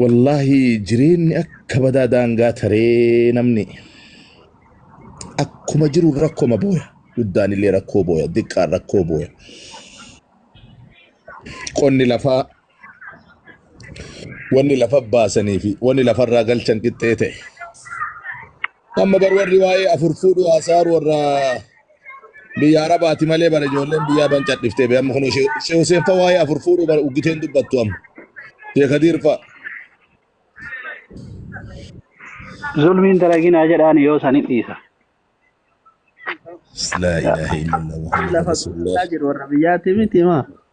Wallaahi jireenyi akka badaa daangaa taree namni akkuma jiruun rakkoma booya. Guddaan illee rakkoo booya. Diqqaan rakkoo booya. Qonni lafaa wanni lafa baasanii fi wanni lafarraa galchan qixxee ta'e. Amma bar warri waa'ee afur fuudhuu haasa'aa warra biyya arabaati malee bara ijoolleen biyyaa ban cadhiftee bee amma kun ishee huseen fa waa'ee afur fuudhuu bara uggiteen dubbattu amma shee kadiir fa Zulmiin dalaginaa jedhaan yoo san hin dhiisa. laa ilaaha illallah muhammad lafa rasulullah gurguraa jiru warra biyyaati miti maa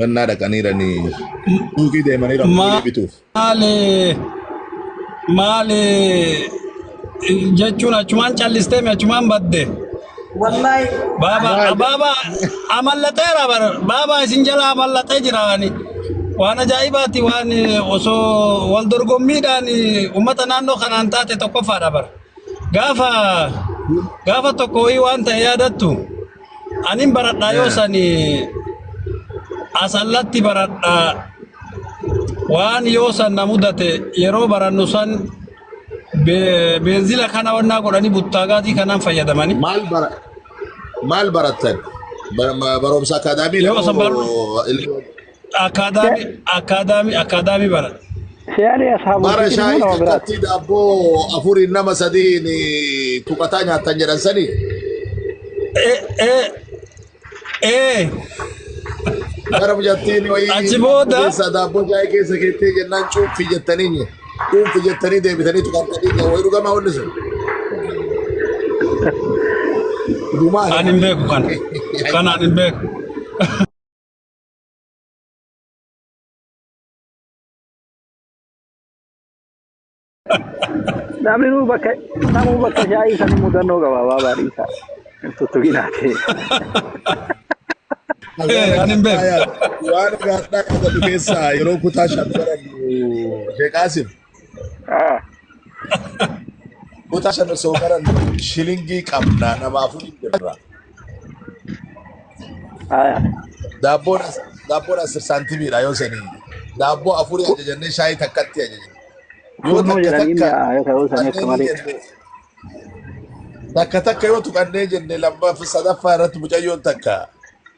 Rannaa dhaqaniiranii suuqii deemanii rammoonii bituuf. Maali maali jechuun achumaan callistee mi achumaan badde. Wallahi. Baaba baaba amallateera bar baaba isin jala amallatee jiraani. Waan ajaa'ibaati waan osoo wal dorgommiidhaan uummata naannoo kanaan taate tokkoffaadha bar. Gaafa gaafa tokko wayii waan ta'e yaadattu. Anin baradhaa yoo sani asallatti baradhaa waan yoo san na mudate yeroo barannu san be- beenzila kana wannaa godhanii buttaagaatii kanaan fayyadamani. Maal bara maal barattan? Bar- ma- Barumsa akaadaamii Yoo san barru- moo- Akkaadaami akkaadaami akkaadaami bara. Se'alee asxaa Bara bultii ilmoo shaayii nama biraati. takkatti daabboo afuriin nama sadiin tuqataa nyaatan jedhan sanii. Ee ee ee Bara mijattiin wayii Achi booda- keessa daabboo shaayii keessa keettee jennaan cuunfi jettanii nyi. Cuunfi jettanii deebitanii tuqattanii nyi. Wayii dhugamaa wanni sun. Dhumaa ani hin beeku kana. Kana ani hin beeku. Namni nuu bakka namuu bakka shaayii sanii mudannoo qaba baabaa dhiisaa. Tuttuqinaa ta'e. Eh, ani hin beeku. Waan irraa addaa qabatu keessaa yeroo kutaa shan barannu Sheekaasim. Ah, Kutaa shan osoo barannu shilingii qabna nama afur hin jirra. ah, Daabboon as- daabboon asir saantimiidha yoo sanii. Daabboo afurii ajajannee shaayii takkatti ajajna. Yoo Kunnuu takka jedhanii takka mi'aa yoo ta'uu isaanii akka tuqannee ni malee. jenne takka takka yoo tuqannee jenne lammaffaa sadaffaa irratti mucayyoon takka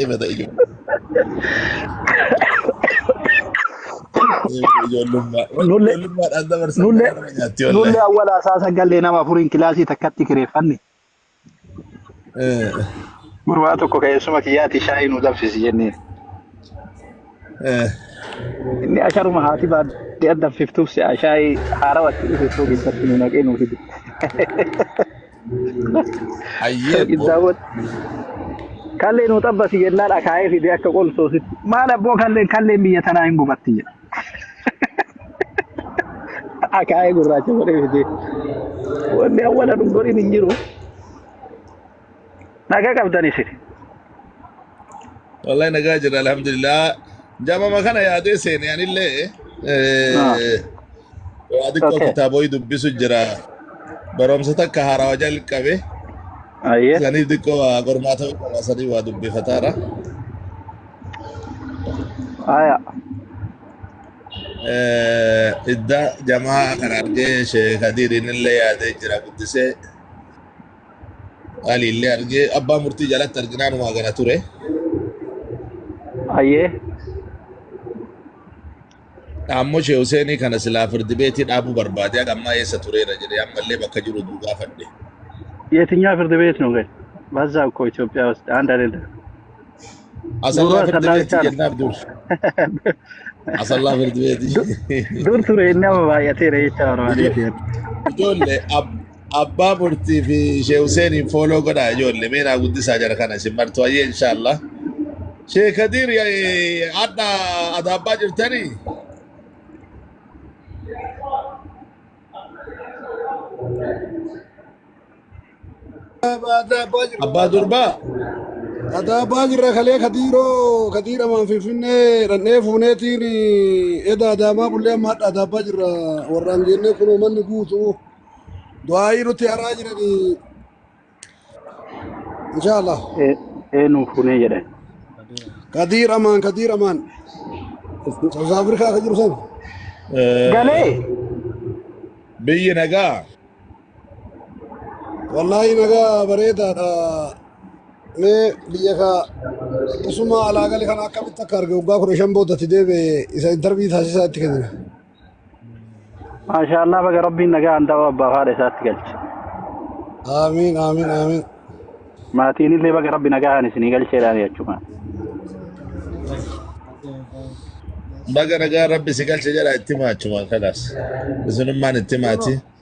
Eebata ijo- eebata ijoollummaa. Wanni Nulle ijoollummaadhaan dabarsan nulle garaa nama nyaatti nulle wallahi. awwala isaa sagallee nama afuriin kilaasii takkatti kireeffanne Eh, gurbaa tokko keessuma kiyyaati shaayii nu danfisi jenneen. eh, Inni asharuma haati baadhee addanfiftuuf si'a shaayii haarawatti dhufeessoo keessatti nu naqee nu fide. Hayyee Yookiin bbo. daawwatu. Kalleen nu xabbasi jennaan akaayee fidee akka qolsoositti. Maal abboo kalleen kalleen biyya tanaa hin gubatti jedha. Akaayee gurraacha godhee fidee. Wanni awwala dhungoriin hin jiru. Dhaga qabdan isin. Wallahi nagaa jirra alhamdulillah. Jamama kana yaadee seene anillee Ah, eh, waa xiqqoo okay. kitaaboyi dubbisu jira. Barumsa takka haarawaa jalqabe Aye. saniif xiqqoo waa qormaata qaba sanii waa dubbifataara. Aya. Eh, Idda jamaa kana argee sheekadiin illee yaadee jira guddisee. Qaali illee argee abbaa murtii jalatti arginaan waa gana ture. Ayyee. Dhaammoo Shee Huseenii kana silaa firdi beetii dhaabuu barbaade haga ammaa eessa tureera jedhee ammallee bakka jiru duu gaafadhe. Yetinyaa firdi beet nu gadi. Bazzaa ukkoo Itoophiyaa wasti anda leda. Asallaa firdi beetii jennaaf dur. Asallaa firdi beetii. Dur ture inni amma baay'ateera jecha barbaadee. Ijoollee Abbaa murtii fi Shee Huseeniin fooloo godhaa ijoolle mee naa guddisaa jara kana isin martu hayyee inshaallah. Shee Kadiir eh, hadha adaabbaa jirtanii? Abbaa durbaa? Adaabaa jirra kalee kadiiroo kadiira maan finfinnee dhannee fuuneetiin eda adaamaa bullee amma hadha adaabaa jirra warraan geennee kunoo manni guutu. Du'aayii nuti haraa jirani. Inshaallah. Ee- Eenuu fuunee jedhan. Kadiir Amaan, Kadiir Amaan. South Africa akka jiru sana. Galee Biyyi nagaa. Wallaahi nagaa bareedaadha. Mee biyya kaa isuma alaa gali kana akkamitti akka arge waggaa kudha shan boodatti deebi'e isa intarvii taasisaa itti kennina. Maashaallah baga rabbiin nagaan da'oo abbaaf haadha isaatti galche. Aamiin aamiin aamiin. Maatiin illee baga rabbi nagaan isinii galcheedhaan jechuudha. Baga nagaa rabbi si galche jedha itti maachumaan kalaas. Isinummaan itti maati.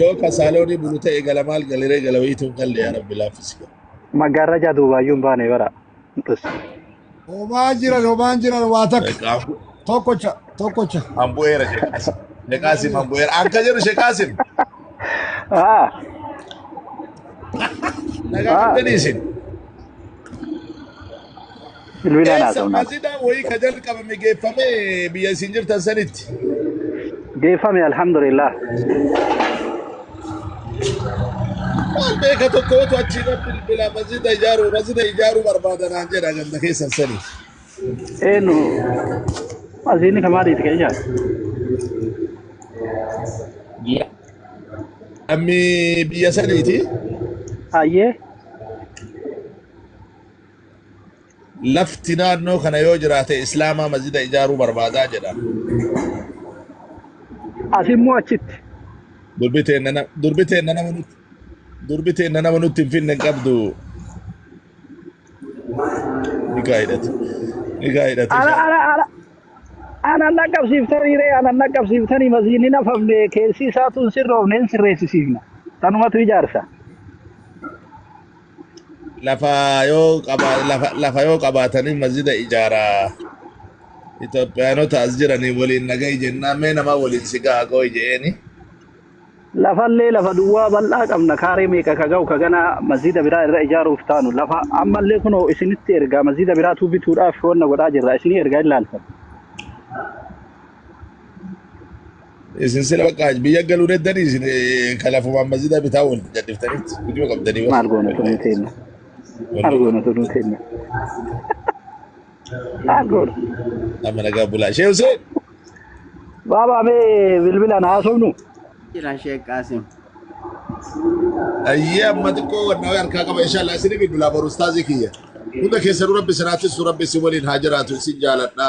Yoo ka saaloonii bulu ta'e gala maal galiree gala wayiitu hin galle yaa rabbi laaffisi. Maggaarrajaa duubaayyuu hin baane bara. Dhus. Homaa jiran homaan jiran waa takka. Tokkocha tokkocha. An bu'eera sheekaasim. Sheekaasim an bu'eera. An ka jedhu sheekaasim. Haa. Nagaa qabdanii isin. Bilbilaan Eessa haasofnaa ture. qasiidaan wayii ka jalqabame geeffame biyya isin jirtan sanitti? Geeffame alhamdulillah. Waan beeka tokkootu achi irra bilbila masjida ijaaruu masjida ijaaruu barbaada naan jedha ganda keessan sanii. Eenyu asiinni kan maaliiti kan ijaare? Ji'a Namni biyya saniiti. Hayyee lafti naannoo kana yoo jiraate islaamaa masjida ijaaruu barbaadaa jedha. Asi immoo achitti. Durbi teenna na- durbi teenna nama nutti durbi teenna nama nutti hin finne hin qabdu. Nikaa hidhate. Nikaa hidhate. Ana ana ana ana naqqabsiiftanii ree ana naqqabsiiftanii masjidni hin hafamne keessi isaatu hin sirroofne hin sirreessisiifna. Tanumatu ijaarsa. Lafa yoo qaba lafa lafa yoo qabaatanii masjida ijaaraa. Itoophiyaanota as jiranii waliin nagahi jennaan mee nama waliin si gaha qooyi je'eeni. Lafallee lafa duwwaa bal'aa qabna kaaree meeqa ka ga'u ka ganaa masjida biraa irra ijaaruuf taanu lafa ammallee kunoo isinitti ergaa masjida biraatuu bituudhaaf wanna godhaa jirra isinii ergaa hin laaltan. Isin sila bakka biyya galuu deeddanii isin eh, ka lafumaan masjida bitaa wal gadhiftanitti hujuma qabdanii bar. maal goona tunuu Wallahi. teenna maal Wallahi. goona tunuu teenna maal goona Amma nagaa bulaa. Shee Hussein. baabaa mee bilbilaan haasofnu Jira Sheek Qaasim. Ayyee amma xiqqoo wanna wayii harkaa qaba inshallah isin bilbilaa boru ustaazii kiyya. Hunda keessanuu rabbi isin haa tissu rabbi isin waliin haa jiraatu isin jaaladha.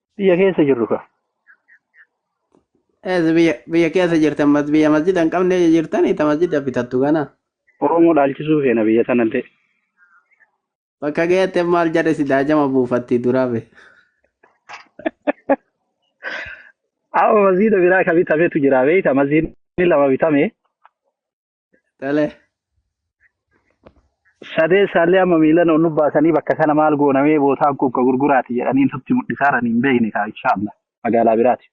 Biyya keessa jirru kaa. Ees biyya biyya keessa jirtan mas biyya masjida hin qabne jirtan ita masjida bitattu kana. Oromoo dhaalchisuu feena biyya tanallee. Bakka geette maal jedhe si daajama buufatti duraa be. Amma masjida biraa ka bitametu jira beekta masjidni lama bitame Dhalee. Sadee isaallee amma miilan ol nubbaasanii bakka kana maal goonamee bootaan kun ka gurguraati jedhanii nutti mul'isaaran hin beekne kaa inshaallah magaalaa biraati.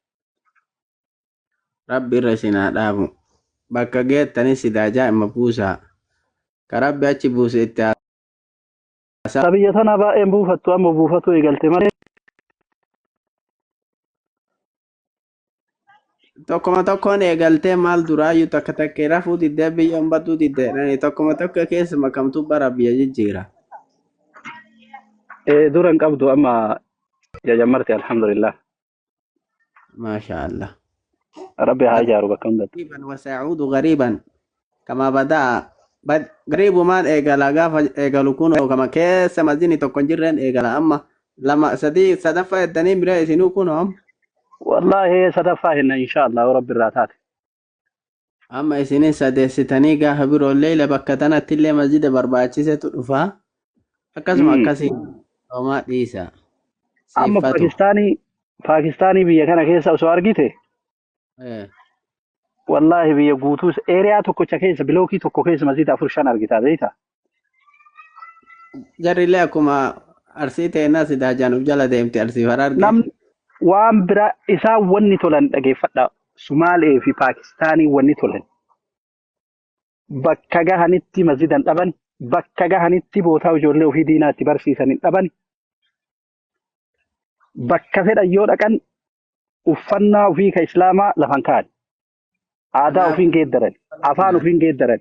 Rabbi irra isin haa dhaabu. Bakka geettanis sidaa jaa'ima buusaa. Ka rabbi achi buuse itti haa Taa biyya tanaa baay'een buufattu amma buufatuu eegalte malee Tokkuma tokkoon eegaltee maal duraayyuu takka takkee rafuu diddee biyyoon baduu diddee tokkuma tokko keessa makamtuu bara biyya jijjiira. Eh, dura hin qabdu amma jajammarte alhamdulillah. Maashaa Allah. Rabbi haa ijaaru bakka hundatti. Gariiban wasaa'uudu gariiban. kama badaa bad gariibumaan eegala gaafa eegalu kunoo kama keessa masjidni tokko hin jirreen eegala amma lama sadii sadaffaa jettanii miree isinuu kunoo amma wallaahi sadaffaa hinna inshaallah yoo rabbi irraa taate amma isinin sadeessitanii gaafa biroo leeyla bakka tanatti illee masjida barbaachisetu dhufa akkasuma Mm. akkasii homaa dhiisa amma siiffatu paakistaanii paakistaanii biyya kana keessa osoo argite Eh, Wallaahi biyya guutuu eeriyaa tokkocha keessa bilookii tokko keessa masjiida afur shan argitaa beektaa? Jarrillee akkuma arsii teenna sidaa jaanuuf jala deemti arsiif hararge. Nam waan biraa isaan wanni tolan dhageeffadha. Sumaalee fi Paakistaanii wanni tolan. Bakka gahanitti masjiidan dhaban, bakka gahanitti bootaa ijoollee ofii diinaatti barsiisan hin dhaban, bakka fedhan yoo dhaqan uffannaa ofii ka Islaamaa lafan kaa'an. Aadaa Kanaaf ofiin geeddaran. Afaan kanaaf ofiin geeddaran.